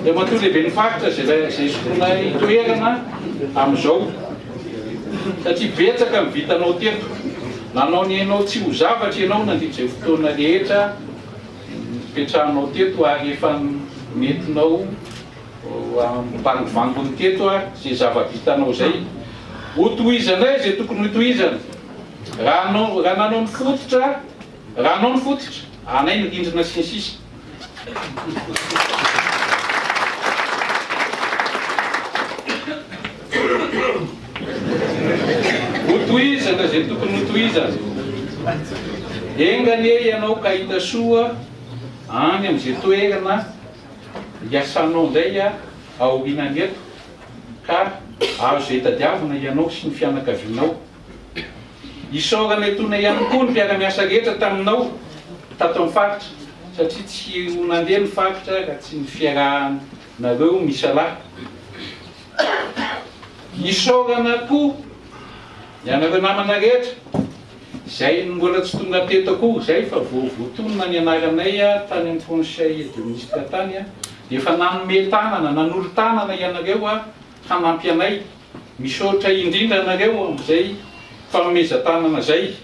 Andriamatoa Lehiben'ny Faritra izay izay sotroinay toerana amin'izao satria betsaka ny vitanao teto. Nanao ny hainao tsy ho zavatra ianao nandritra izay fotoana rehetra nipetrahanao teto ary efa nentinao Ambangovangony teto ary izay zava-bitanao izay. Hotohizanay izay tokony hotohizana. Raha anao, raha nanao ny fototra, raha anao ny fototra, anay ny rindrina sy ny sisa. Hotohizana izay tokony hotohizana. Enga anie ianao ka hita soa any amin'izay toerana. Iasanao indray aorianany eto ka azo izay tadiavina ianao sy ny fianakavianao. Isaorana etoana ihany koa ny mpiara-miasa rehetra taminao tato amin'ny faritra satria tsy ho nandeha ny faritra raha tsy ny fiarahanareo misalahy. Isaorana koa ianareo namana rehetra. Izay mbola tsy tonga teto akoho izay fa vao voatonona ny anaranay tany amin'ny Conseil de Ministre tany dia efa nanome tanana, nanolo tanana ianareo hanampy anay. Misaotra indrindra anareo amin'izay fanomezan-tanana izay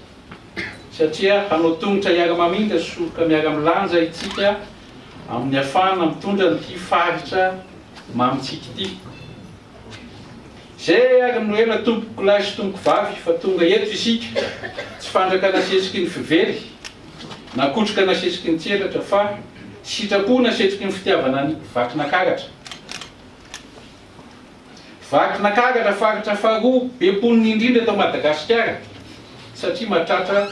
satria hanao tongotra hiara-mamindra sy soroka miara-milanja isika amin'ny hafahana mitondra an'ity faritra mamintsika ity. Zay ary no ela tompoko lahy sy tompoko vavy fa tonga eto isika tsy fandraka nasesiky ny fively na kotroka nasesiky ny tselatra fa sitrapo nasetriky ny fitiavana any Vakinakaratra Vakinakaratra faritra faharoa be mponina indrindra eto Madagasikara satria mahatratra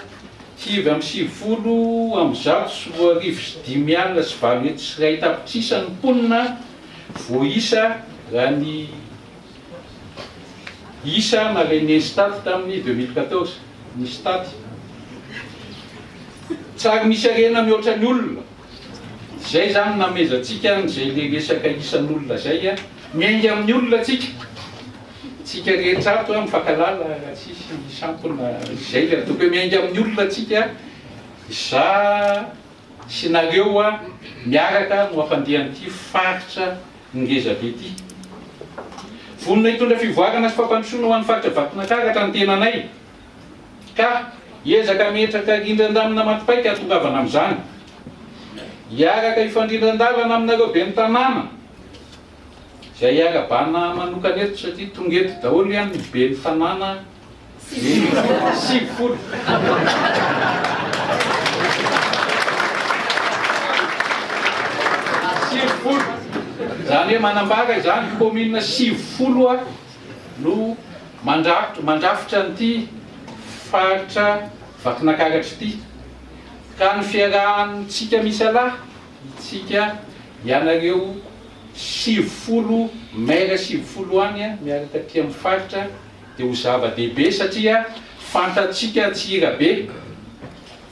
sivy amby sivifolo amby zato sy roa arivo sy dimy alina sy valo hetsy sy iray tapitrisa ny mponina Voaisa raha ny isa nalain'ny Instat tamin'ny deux mille quatorze, ny Stat. Tsary misy harena mihoatra ny olona. Izay izany namezantsika an'izay ilay resaka isan'olona izay. Miainga amin'ny olona tsika. Tsika rehetra ato mifankahalala raha tsisy sampona izay. Tokony miainga amin'ny olona tsika. Za. sy nareo hoa miaraka no afandian'ity faritra ngeza be ity. Vonona hitondra fivoarana sy fampandrosoana ho an'ny faritra Vakinankaratra ny tenanay ka hiezaka hametraka rindran-damina matipaika hahatongavana amin'izany. Hiaraka hifandrindran-dalana aminareo ben'ny tanàna izay hiara-bana manokana eto satria tonga eto daholo ihany ny ben'ny tanàna. sivifolo. Sivifolo. Izany hoe manambara izany kaominina sivifolo no mandrafitra mandrafitra an'ity faritra Vakinakaratra ity. Ka ny fiarahantsika misalahy, isika ianareo sivifolo, maire sivifolo any miaraka aty amin'ny faritra, dia ho zava-dehibe satria fantatsika Antsirabe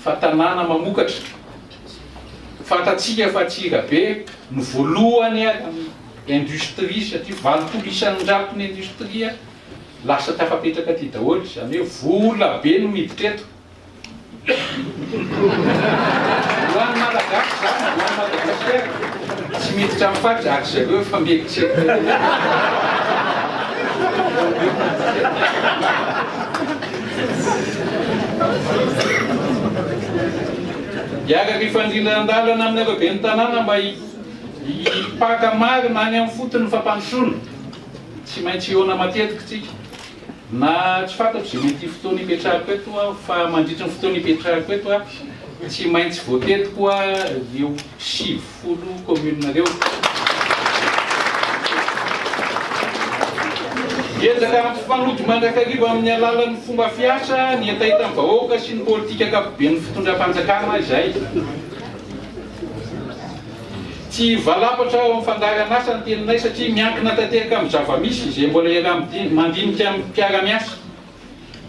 fa tanàna mamokatra, fantatsika fa Antsirabe no voalohany industrie satria valopolo isan-jaton'ny industrie lasa tafapetraka aty daholo, izany hoe vola be no miditra eto. Ho an'ny Malagasy izany, ho an'i Madagasikara, tsy miditra amin'ny fat zary zareo io fa mieritreritra. Hiaraka hifandrindra an-dalana aminareo ben'ny tanàna mba hipaka marina any amin'ny fotony ny fampandrosoana. Tsy maintsy hihaona matetika isika. Na tsy fantatro izay mety ho fotoana hipetrahako eto aho fa mandritry ny fotoana hipetrahako eto aho tsy maintsy voatety koa ireo sivifolo kaomininareo. Hiezaka hampifanojo mandrakariva amin'ny alalan'ny fomba fiasa ny hetahetan'ny vahoaka sy ny politika ankapoben'ny fitondram-panjakana izahay. Tsy hivalapatra ao amin'ny fandaharan'asa ny teninay satria miankina tanteraka amin'ny zava-misy izay mbola iaraha-midinika, mandinika amin'ny mpiara-miasa.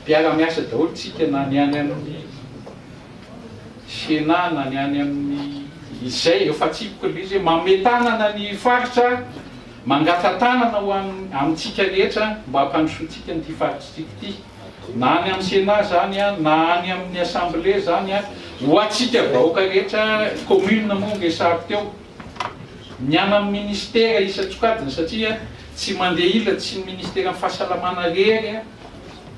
Mpiara-miasa daholo isika na ny any amin'ny Sena na ny any amin'ny izay, ireo fatsipiko ireo izay manome tanana ny faritra, mangata-tanana ho an'ny, amintsika rehetra mba hampandrosoantsika an'ity faritra antsika ity. na any amin'ny Sénat zany na any amin'ny Assemblée zany ho antsika vahoaka rehetra commune moa nge sary teo ny any amin'ny ministère isan-tsokajiny satria tsy mandeha ila tsy ny ministeran'ny fahasalamana rery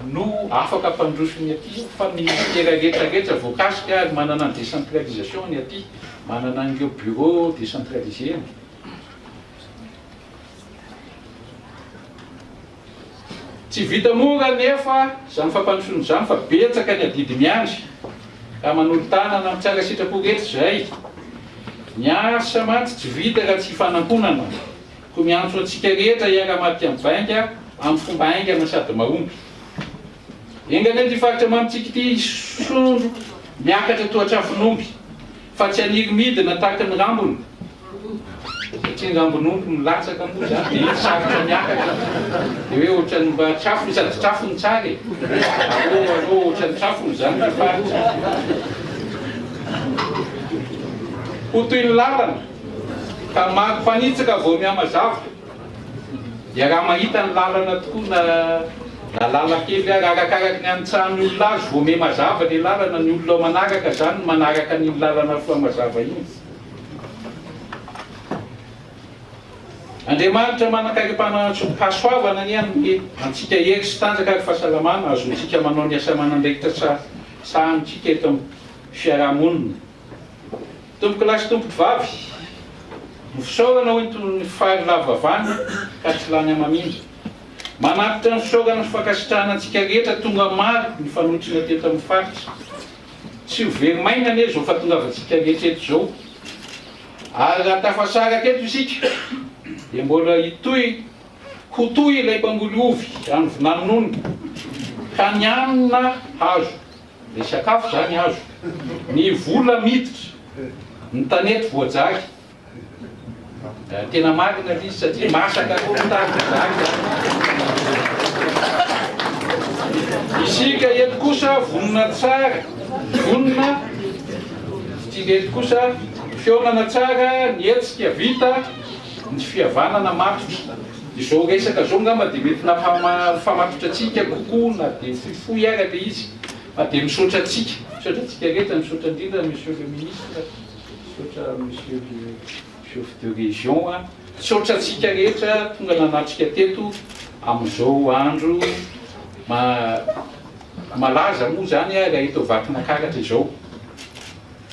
no afaka ampandroso ny aty fa ny ministère rehetra rehetra voakasika ary manana ny décentralisation ny aty manana an'ireo bureau décentralisé ny Tsy vita mora anefa izany fampandrosoana izany fa betsaka ny adidy miandry ka manolo-tanana amin'ny tsara sitrapo rehetra izay. Ny asa mantsy tsy vita raha tsy ifanankonana koa miantso antsika rehetra hiara-maty amin'ny vainga amin'ny fomba haingana sady mahomby. Enga anie ity faritra mamintsika ity hisondro miakatra toa trafon'omby. Fa tsy haniry midina tahaka ny rambony, satria ny rambon'omby milatsaka moa izany dia iny sarotra miakatra, dia hoe ohatran'ny mba trafony, sady trafony tsara e! Allo allo ohatran'ny trafony izany ny faritra. Ho toy ny lalana, ka maro mpanitsaka vao mihamazava. Iaraha mahita ny lalana tokoa na na lalan-kely ary arakaraky ny anitsahan'ny olona azy vao miha mazava ilay lalana, ny olona manaraka izany no manaraka an'iny lalana soa mazava iny. Andriamanitra manan-karipana antso hasoavana anie hanome antsika hery sy tanjaka ary fahasalamana hahazoantsika manao ny asa aman'andraikitra sahanintsika eto amin'ny fiaraha-monina. Tompoko lahy sy tompoko vavy, ho fisaorana hoy ny tonon'ny fary lavo avana ka tsy lany hamamindra. Manatitra ny fisaorana sy fankasitrahana antsika rehetra tonga maro nifanotrona teto amin'ny faritra. Tsy ho very maina anie izao fahatongavantsika rehetra eto izao ary raha tafasaraka eto isika dia mbola hitohy ho toy ilay mpangoly ovy any Vinanonony ka ny hanina hazo. Ny sakafo izany azo. Ny vola miditra. Ny tanety voajaly. Tena marina ilay izy satria masaka koa ny tany voajaly izany. Isika eto kosa vonona tsara, vonona isika eto kosa fihaonana tsara, ny hetsika vita, ny fihavanana matotra. Izao resaka izao angamba dia mety nampamatotra antsika kokoa na dia fohifohy ary ilay izy fa dia misaotra antsika. Misaotra antsika rehetra, misaotra indrindra Monsieur le Ministre, misaotra Monsieur le Chef de Région, misaotra antsika rehetra tonga nanatrika teto amin'izao andro malaza moa izany raha eto Vakinakaratra izao.